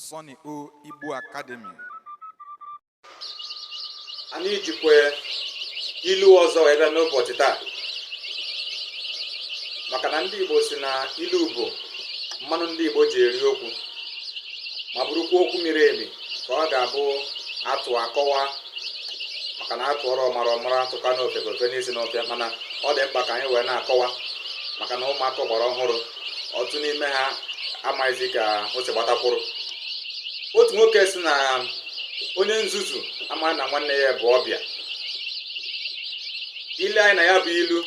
Sonny O Igbo Academy. anyị jikwa ilu ọzọ wee bịa n'ụbọchị taa maka na ndị Igbo sị na ilu bụ mmanụ ndị Igbo ji eri okwu ma bụrụkwa okwu miri emi ka ọ ga-abụ atụọ akọwaa maka na atụọrọ ọmara ọ mara atụkwara ofeke o fenye isi n'ọfịa mana ọ dị mkpa ka anyị wee na-akọwa maka na ụmụaka gbara ọhụrụ ọtụtụ n'ime ha amaghịzi ka o si gbata kwụrụ otu nwoke sị na onye nzuzu amaghị na nwanne ya bụ ọbịa i lee anya na ya bụ ilu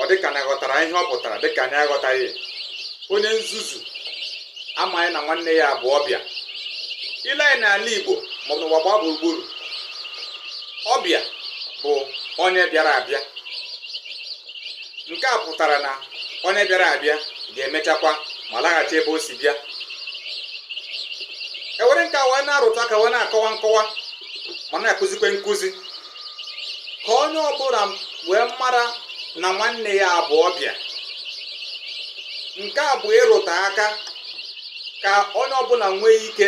ọ dịka na aghọtara ihe ọ pụtara dịka anyị aghọtaghị onye nzuzu amaghị na nwanne ya bụ ọbịa i lee anya n'ala Igbo maọbụ n'ụwa gbaa gburugburu ọbịa bụ onye bịara abịa nke a pụtara na onye bịara abịa ga-emechakwa ma laghachi ebe o si bịa ewere nke a wee na-arụtụ aka wee na-akọwa nkọwa ma na-akụzikwe nkụzi ka onye ọbụla wee mara na nwanne ya bụ ọbịa nke a bụ ịrụtụ aka ka onye ọbụla nwee ike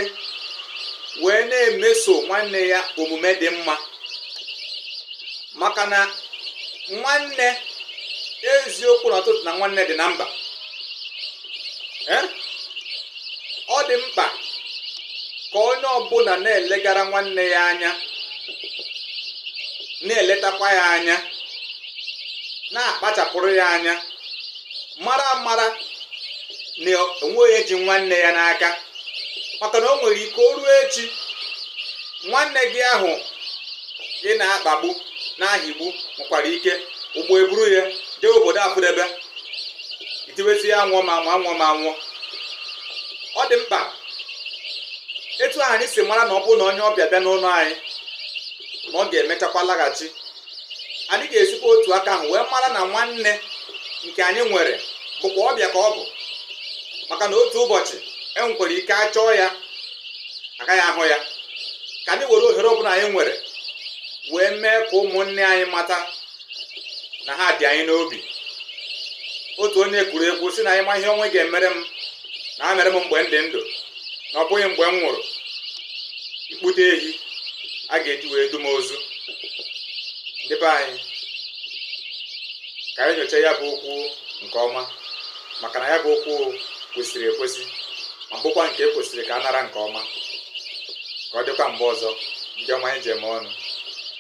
wee na-emeso nwanne ya omume dị mma maka na nwanne eziokwu na ọtụtụ na nwanne dị na mba ọ dị mkpa ka onye ọbụla na-elegara nwanne ya anya na-eletakwa ya anya na-akpachapụrụ ya anya mara amara na onweghị onye ji nwanne ya n'aka maka na o nwere ike o ruo echi nwanne gị ahụ ị na-akpagbu na-ahịgbu nwekwara ike ụgbọ eburu ya jee obodo afụdebe i tiwezie anwụọ m anwụọ anwụọ m anwụọ ọ dị mkpa etu ahụ anyị si mara na ọ bụrụ na onye ọbịa bịa n'ụlọ anyị na ọ ga-emechakwa laghachi anyị ga-esikwa otu aka ahụ wee mara na nwanne nke anyị nwere bụkwa ọbịa ka ọ bụ maka na otu ụbọchị e nwekwara ike achọọ ya agaghị ahụ ya ka anyị were ohere ọbụla anyị nwere wee mee ka ụmụnne anyị mata na ha dị anyị n'obi otu onye kwuru ekwu sị na ịma ihe onye ga-emere m nya meere m mgbe m dị ndụ na ọ bụghị mgbe m nwụrụ ị kpụte ehi a ga-eji wee du m ozu ndị be anyị ka anyị nyochaa ya bụ okwu nke ọma maka na ya bụ okwu kwesịrị ekwesị ma bụkwa nke ekwesịrị ka a nara nke ọma ka ọ dịkwa mgbe ọzọ ndị ọma anyị ji eme ọnụ